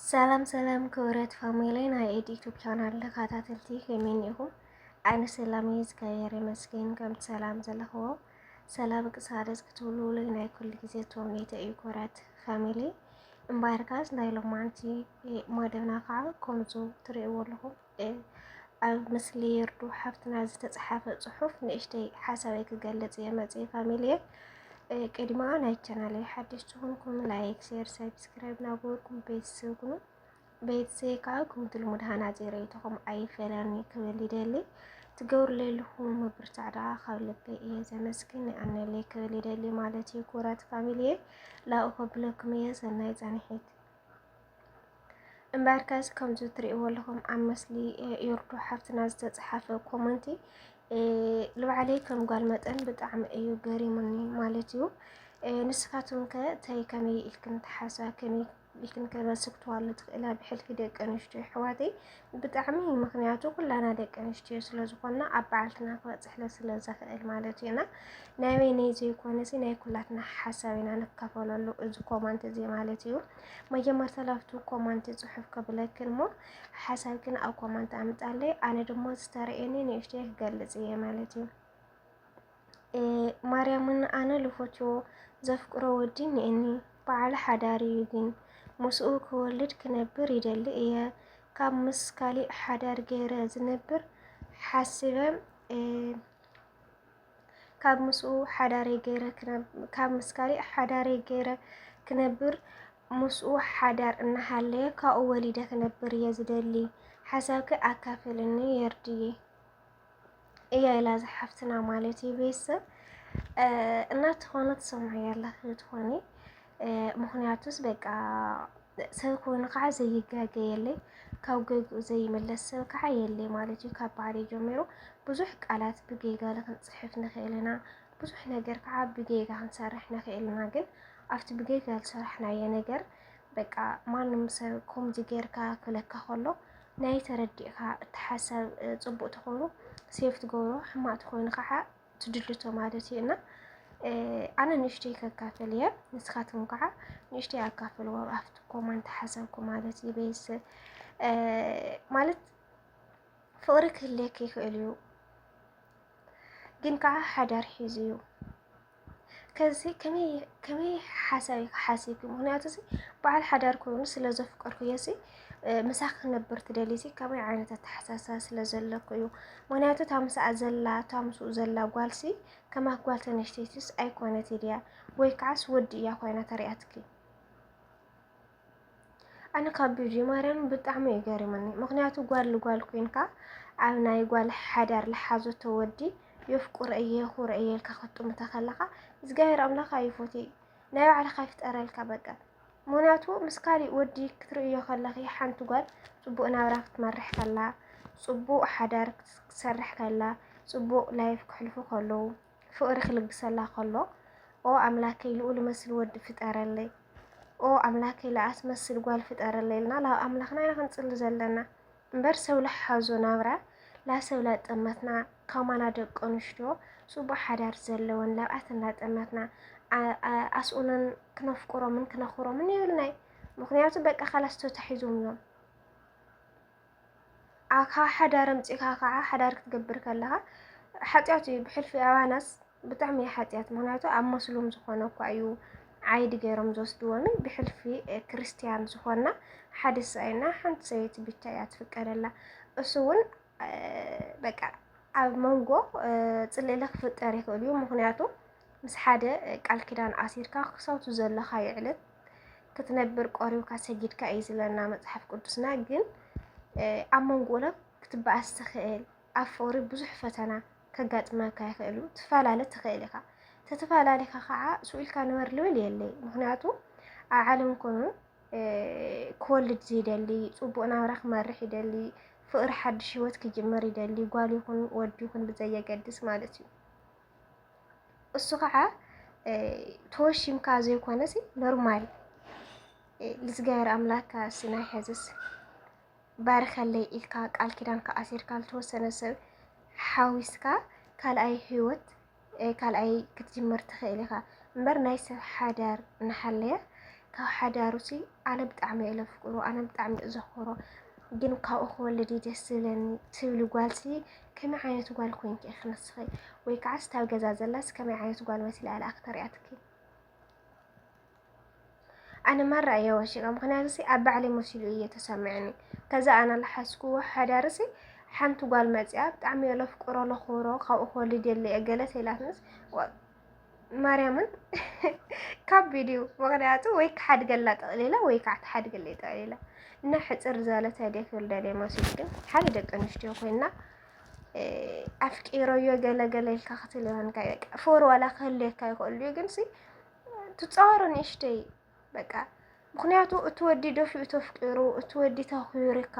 ሰላም ሰላም ክብረት ፋሚሊ ናይ ኤድ ዩቱብ ቻናል ተኸታተልቲ ከመይ እኒኹም? ኣነ ሰላም እየ እግዚኣብሔር ይመስገን። ከምቲ ሰላም ዘለኽዎ ሰላም ቅሳደስ ክትብልውለይ ናይ ኩሉ ግዜ ተምኔተ እዩ። ክብረት ፋሚሊ እምበኣርካስ ናይ ሎማንቲ መደብና ከዓ ከምዙ ትርእይዎ ኣለኹም ኣብ ምስሊ ይርዱ ሓፍትና ዝተፅሓፈ ፅሑፍ ንእሽተይ ሓሳበይ ክገልፅ እየ መፅየ ፋሚልየ ቅድማ ናይ ቻናለይ ሓድሽ ዝኾንኩም ላይክ፣ ሼር፣ ሰብስክራይብ ናገበርኩም ቤተሰብ ኩኑ ቤተሰብ ከዓ ክምቲ ልሙድ ሃናፂ ርእይቶኹም ኣይፈለኒ ክብል ይደሊ ትገብሩለይ ልኹም ምብርታዕ ደኣ ካብ ልበይ እየ ዘመስግን ይኣነለይ ክብል ይደሊ ማለት እዩ። ክቡራት ፋሚሊየ ላኡ ከብለኩም እየ ሰናይ ፃንሒት እምበኣር ከዚ ከምዚ ትሪእዎ ኣለኹም ኣብ ምስሊ ዮርዶ ሓፍትና ዝተፅሓፈ ኮመንቲ ልባዕለይ ከም ጓል መጠን ብጣዕሚ እዩ ገሪሙኒ ማለት እዩ። ንስኻትኩም ከ እንታይ ከመይ ኢልክን ትሓስባ ከመይ ኢልክን ከ ትስክትዋሉ ትኽእላ ብሕልፊ ደቂ ኣንስትዮ ኣሕዋተይ ብጣዕሚ ምክንያቱ ኩላና ደቂ ኣንስትዮ ስለ ዝኾና ኣብ በዓልትና ክበፅሕለ ስለ ዘኽእል ማለት እዩ እና ናይ ወይነይ ዘይኮነሲ ናይ ኩላትና ሓሳብ ኢና ንካፈለሉ እዚ ኮመንት እዚ ማለት እዩ። መጀመርታ ላብቱ ኮማንት ጽሑፍ ከብለክን እሞ ሓሳብክን ኣብ ኮማንት ኣምጣለይ ኣነ ድሞ ዝተረኤኒ ንእሽተይ ክገልጽ እየ ማለት እዩ ማርያምን ኣነ ልፎቾ ዘፍቅሮ ወዲ እኒኤኒ በዓል ሓዳር እዩ ግን ምስኡ ክወልድ ክነብር ይደሊ እየ ካብ ምስ ካሊእ ሓዳር ገይረ ዝነብር ሓስበ ካብ ምስኡ ሓዳረይ ገይረ ክነብ ካብ ምስ ካሊእ ሓዳረይ ገይረ ክነብር ምስኡ ሓዳር እናሃለየ ካብኡ ወሊደ ክነብር እየ ዝደሊ ሓሳብኪ ኣካፍልኒ የርድዬ እያ ኢላ ዝሓፍትና ማለት እዩ ቤተሰብ እናትኾነ ትሰምዑ ያላችሁ ትኾኒ ምክንያቱስ በቃ ሰብ ክውን ከዓ ዘይጋገ የለይ ካብ ገግኡ ዘይምለስ ሰብ ከዓ የለይ ማለት እዩ ካብ ባህሪ ጀሚሩ ብዙሕ ቃላት ብጌጋ ንክንፅሕፍ ንኽእል ኢና ብዙሕ ነገር ከዓ ብጌጋ ክንሰርሕ ንኽእል ኢና ግን ኣብቲ ብጌጋ ዝሰራሕናዮ ነገር በቃ ማንም ሰብ ከምዚ ጌርካ ክብለካ ከሎ ናይ ተረዲእካ እቲ ሓሳብ ፅቡቅ ተኾይኑ ሴፍ ትገብሮ ሕማቅ ተኾይኑ ከዓ ትድልቶ ማለት እዩ እና ኣነ ንእሽተይ ከካፍል እየ ንስኻትኩም ከዓ ንእሽተይ ኣካፍልዎ ኣብቲ ኮማንት ሓሳብኩ ማለት እዩ ቤስ ማለት ፍቅሪ ክህልየክ ይኽእል እዩ ግን ከዓ ሓዳር ሒዙ እዩ ከዚ ከመይ ሓሳብ ሓሲብኪ ምክንያቱ በዓል ሓዳር ኮይኑ ስለ ዘፍቀርኩ እየ ምሳኺ ክነብር ትደሊሲ ከመይ ዓይነት ኣተሓሳስባ ስለ ዘለኩ እዩ ምክንያቱ እታ ምስኣ ዘላ እታ ምስኡ ዘላ ጓልሲ ከማክ ጓል ተነሽተይትስ ኣይኮነት ድያ ወይ ከዓስ ወዲ እያ ኮይና ተሪኣትኪ ኣነ ካብ ቢጂ ማርያም ብጣዕሚ እዩ ገሪሙኒ። ምክንያቱ ጓል ልጓል ኮይንካ ኣብ ናይ ጓል ሓዳር ልሓዘቶ ወዲ የፍቁረ እየ ኩረ እየ ኢልካ ክትጥምታ ከለካ እግዚኣብሔር ኣምላክ ኣይፎቴ ናይ ባዕልካ ይፍጠረልካ በቃ ምክንያቱ ምስ ካሊእ ወዲ ክትርእዮ ከለኺ ሓንቲ ጓል ፅቡቅ ናብራ ክትመርሕ ከላ ፅቡቅ ሓዳር ክትሰርሕ ከላ ፅቡቅ ላይፍ ክሕልፉ ከለው ፍቅሪ ክልግሰላ ከሎ ኦ ኣምላከይ ልኡ ልመስል ወዲ ፍጠረለይ ኦ ኣምላከይ ልኣትመስል ጓል ፍጠረለይ ኢልና ናብ ኣምላክና ኢና ክንፅሊ ዘለና። እምበር ሰብ ልሓዞ ናብራ ላሰብ ላጠመትና ከማና ደቂ ኣንሽትዮ ጽቡቅ ሓዳር ዘለወን ላብኣተን ላጠመትና ኣስኡነን ክነፍቅሮምን ክነኽብሮምን የብልናይ ምክንያቱ በቃ ካላስ ተታሒዞም እዮም ካብ ሓዳር ኣምጺእካ ከዓ ሓዳር ክትገብር ከለኻ ሓጢኣት እዩ ብሕልፊ ኣባናስ ብጣዕሚ እዩ ሓጥያት ምክንያቱ ኣብ መስሉም ዝኾነ እኳ እዩ ዓይዲ ገይሮም ዝወስድዎኒ ብሕልፊ ክርስትያን ዝኾና ሓደ ሰብኣይና ሓንቲ ሰበይቲ ብቻ እያ ትፍቀደላ እሱ እውን በቃ ኣብ መንጎ ፅልእለ ክፍጠር ይኽእል እዩ ምክንያቱ ምስ ሓደ ቃል ኪዳን ኣሲርካ ክሳውቱ ዘለካ ይዕለት ክትነብር ቆሪብካ ሰጊድካ እዩ ዝለና መፅሓፍ ቅዱስና ግን ኣብ መንጎ ለ ክትበኣስ ትኽእል ኣብ ፍቕሪ ብዙሕ ፈተና ከጋጥመካ ይኽእል'ዩ፣ ትፋላለ ትኽእል ኢኻ፣ ተተፋላሊኻ ኻዓ ሱቕ ኢልካ ንበር ልብል የለይ፣ ምኽንያቱ ኣብ ዓለም ኮኑ ክወልድ ዝይደሊ፣ ጽቡቕ ናብራ ክመርሕ ይደሊ፣ ፍቕሪ ሓድሽ ህይወት ክጅምር ይደሊ፣ ጓል ይኹን ወዲ ይኹን ብዘየገድስ ማለት እዩ። እሱ ኻዓ ተወሺምካ ዘይኮነሲ ኖርማል ልዝጋየር ኣምላካ ስናይ ሕዝስ ባርኸለይ ኢልካ ቃል ኪዳንካ ኣሲርካ ዝተወሰነ ሰብ ሓዊስካ ካልኣይ ህይወት ካልኣይ ክትጅምር ትኽእል ኢኻ እምበር ናይ ሰብ ሓዳር እናሃለየ ካብ ሓዳሩ ሲ ኣነ ብጣዕሚ እየ ለፍቅሮ ኣነ ብጣዕሚ እዩ ዘኽብሮ ግን ካብኡ ክወልድ እዩ ደስ ዝብለኒ ትብሊ ጓልሲ ከመይ ዓይነት ጓል ኮንኪ ኢኺ ንስኺ ወይ ከዓ ስታብ ገዛ ዘላስ ከመይ ዓይነት ጓል መሲላ እያ ኣክተር እያ ትኪ ኣነ ማራ እየ ወሲቀ ምክንያቱሲ ኣብ ባዕለይ መሲሉ እየ ተሰሚዕኒ ከዛ ኣነ ልሓስኩዎ ሓዳርሲ ሓንቲ ጓል መፅያ ብጣዕሚ እየ ለፍቅሮ ለኽብሮ ካብኡ ክወልድ የለ እየ ገለ ተይላትንስ ማርያምን ካብ ቪድዩ ምክንያቱ ወይ ክሓድገላ ጠቕሊላ ወይ ከዓ ትሓድገለይ ጠቕሊላ እና ሕፅር ዝበለ ተዲያ ክወልደለ መሲሉ ግን ሓደ ደቂ ኣንስትዮ ኮይና ኣፍቂሮዮ ገለገለ ኢልካ ክትልዮንካ ፎር ዋላ ክህልየካ ይኽእሉ ግን ሲ ትፃወሮ ንእሽተይ በቃ ምክንያቱ እቲ ወዲ ደፊኡ ተፍቂሩ እቲ ወዲ ተኽቢርካ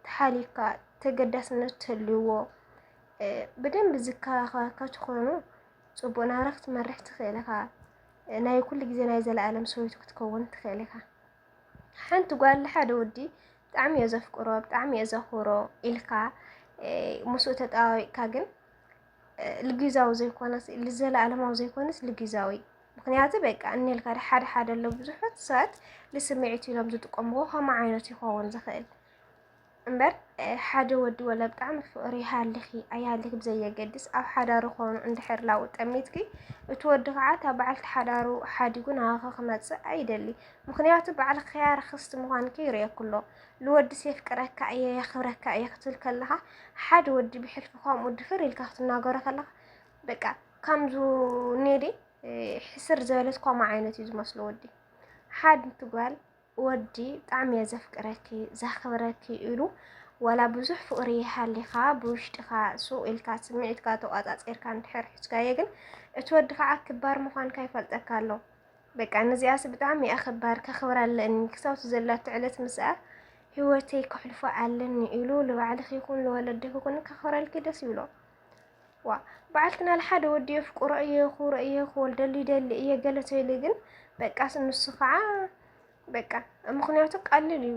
ተሓሊካ ተገዳስነት ተልዎ ብደንብ ዝከባኸበካ ትኾኑ ፅቡቅ ናብራ ክትመርሕ ትኽእል ኢኻ። ናይ ኩሉ ግዜ ናይ ዘለኣለም ሰበይቱ ክትከውን ትኽእል ኢኻ። ሓንቲ ጓል ንሓደ ወዲ ብጣዕሚ እየ ዘፍቅሮ ብጣዕሚ እየ ዘኽብሮ ኢልካ ምስኡ ተጠባቢቕካ ግን ልጊዛዊ ዘይኮነስ ልዘለኣለማዊ ዘይኮነስ ልጊዛዊ ምክንያቱ በቃ እኒልካ ሓደ ሓደ ኣሎ ብዙሐት ሰባት ልስምዒት ኢሎም ዝጥቀምዎ ከምኡ ዓይነት ይኸውን ዝኽእል እምበር ሓደ ወዲ ወላ ብጣዕሚ ፍቅሪ ይሃልኺ ኣይሃልኺ ብዘየገድስ ኣብ ሓዳሩ ኾኑ እንድሕር ላው ጠሚትኪ እቲ ወዲ ከዓ እታ በዓልቲ ሓዳሩ ሓዲጉ ናባኺ ክመፅእ ኣይደሊ ምክንያቱ በዓል ኸያ ርክስቲ ምዃንኪ ይርእየኩ ኣሎ ልወድስ የፍቅረካ እየ የኽብረካ እየ ክትብል ከለኻ ሓደ ወዲ ብሕልፊ ከምኡ ድፍር ኢልካ ክትናገሮ ከለኻ በቃ ከምዙ ኔዴ ሕስር ዝበለት ኮማ ዓይነት እዩ ዝመስሎ ወዲ ሓድ ትጓል ወዲ ብጣዕሚ እየ ዘፍቅረኪ ዘኽብረኪ ኢሉ ዋላ ብዙሕ ፍቅሪ ይሃሊኻ ብውሽጢኻ ሱቅ ኢልካ ስምዒትካ ተቋፃፂርካ እንድሕር ሒዝካዮ ግን እቲ ወዲ ከዓ ክባር ምዃንካ ይፈልጠካ ኣሎ በቃ ነዚኣስ ብጣዕሚ እያ ከባድ ከኽብራ ኣለኒ ክሳብቲ ዘላቶ ዕለት ምስኣ ህይወተይ ከሕልፎ ኣለኒ ኢሉ ንባዕልኺ ይኹን ንወለድኺ ይኹን ከኽብረልኪ ደስ ይብሎ ዋ በዓልትና ልሓደ ወዲ የፍቅሮ እየ ክብሮ እየ ክወልደሉ ይደሊ እየ ገለ ተይሉ ግን በቃ ንሱ ከዓ በቃ ምክንያቱ ቀልል እዩ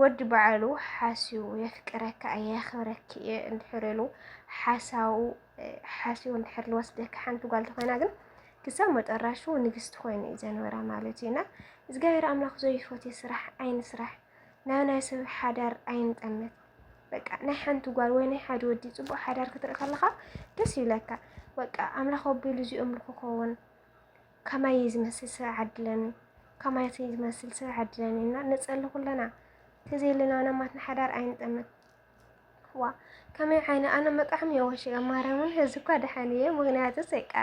ወዲ ባዕሉ ሓስዩ የፍቅረካ እየ የኽብረኪ እየ እንድሕር ኢሉ ሓሳው ሓስዩ እንድሕር ልወስደካ ሓንቲ ጓል ተኾይና ግን ክሳብ መጠራሹ ንግስቲ ኮይኑ እዩ ዘንበራ ማለት እዩ እና እግዚኣብሔር ኣምላኽ ዘይፈትዮ ስራሕ ኣይንስራሕ ናብ ናይ ሰብ ሓዳር ኣይንጠምት በቃ ናይ ሓንቲ ጓል ወይ ናይ ሓደ ወዲ ፅቡቅ ሓዳር ክትርኢ ከለካ ደስ ይብለካ። በቃ ኣምላኽ ኣቢሉ እዚኦም ክኸውን ከማይ እዩ ዝመስል ስረ ዓድለኒ ከማይ እዩ ዝመስል ስረ ዓድለኒ እና ንጸሊ ኩለና ተዘይለና ናማትና ሓዳር ኣይንጠምት ዋ ከመይ ዓይነ ኣነ መጣዕም እየ ወሽ ማርያምን እዚ እኳ ደሓን እየ ምክንያቱ ሰቃ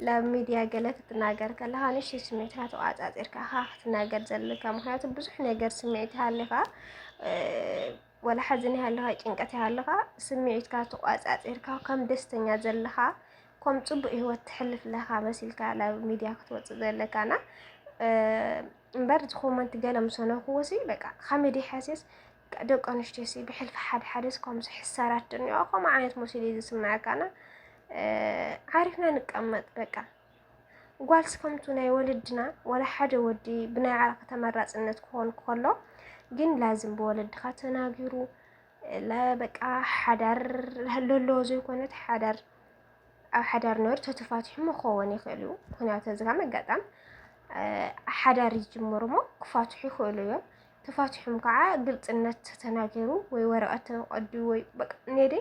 ላብ ሚድያ ገለ ክትናገር ከለካ ንሽ ስሜትካ ተቋፃፂርካ ክትናገር ዘለካ ምክንያቱ ብዙሕ ነገር ስምዒት ሃሊካ ወላ ሓዘን ይሃልኻ ጭንቀት ይሃልኻ ስምዒትካ ተቋጻጺርካ ከም ደስተኛ ዘለኻ ከም ጽቡቅ ህይወት ትሕልፍ ለኻ መሲልካ ናብ ሚድያ ክትወጽእ ዘለካና እምበር ዝኮመንት ገለ ምሰነኩዎሲ በቃ ካሜዲ ሓሴስ ደቂ ኣንስትዮ ሲ ብሕልፊ ሓደ ሓደስ ከምዚ ሕሳራት ድንዮ ከምኡ ዓይነት መሲሉ እዩ ዝስምዐካና ዓሪፍና ንቀመጥ በቃ ጓልስ ከምቱ ናይ ወለድና ዋላ ሓደ ወዲ ብናይ ዓርኺ ተመራፅነት ክኾን ከሎ ግን ላዝም ብወለድኻ ተናጊሩ በቃ ሓዳር ለለዎ ዘይኮነት ሓዳር ኣብ ሓዳር ነሩ ተተፋትሑ መኸውን ይኽእል እዩ ምክንያቱ እዚጋ መጋጣም ሓዳር ይጅምሩ እሞ ክፋትሑ ይኽእሉ እዮም ተፋቲሑም ከዓ ግልፅነት ተናገሩ ወይ ወረቀት ተቀዱ ወይ ኔዴ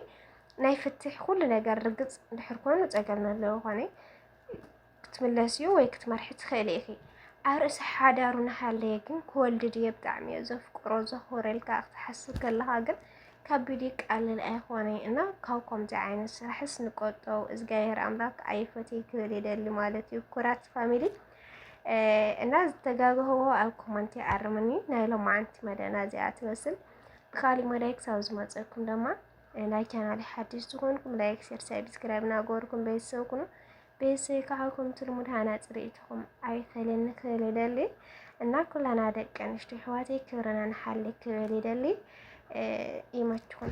ናይ ፍትሕ ኩሉ ነገር ርግፅ ድሕር ኮኑ ፀገም ዘለዎ ኮነ ክትምለስ እዩ ወይ ክትመርሒ ትኽእሊ ኢኺ ኣብ ርእሲ ሓዳሩ ናሃለየ ግን ክወልድ ድየ ብጣዕሚ እየ ዘፍቅሮ ዘኽብረልካ ክትሓስብ ከለኻ ግን ከቢድ ቃልል ኣይኾነ እና ካብ ከምዚ ዓይነት ስራሕስ ንቆጠው እዝጋሄር ኣምላክ ኣይፈትይ ክብል ይደሊ ማለት እዩ ኩራት ፋሚሊ እና ዝተጋግህዎ ኣብ ኮመንቲ ኣርምኒ ናይ ሎማዓንቲ መደና እዚኣ ትመስል ብካሊእ መዳይ ክሳብ ዝመፀኩም ድማ ናይ ቻናል ሓድሽ ዝኾንኩም ላይክ ሸር ሳብስክራይብ ናገበርኩም ቤተሰብ ኩኑ ቤተሰብ ካዓኩም ትልሙድ ሃናፂ ርእይትኹም ኣይፈለኒ ክብል ይደሊ እና ኩላና ደቂ ኣንስትዮ ኣሕዋተይ ክብርና ንሓሊ ክብል ይደሊ ይመችኹም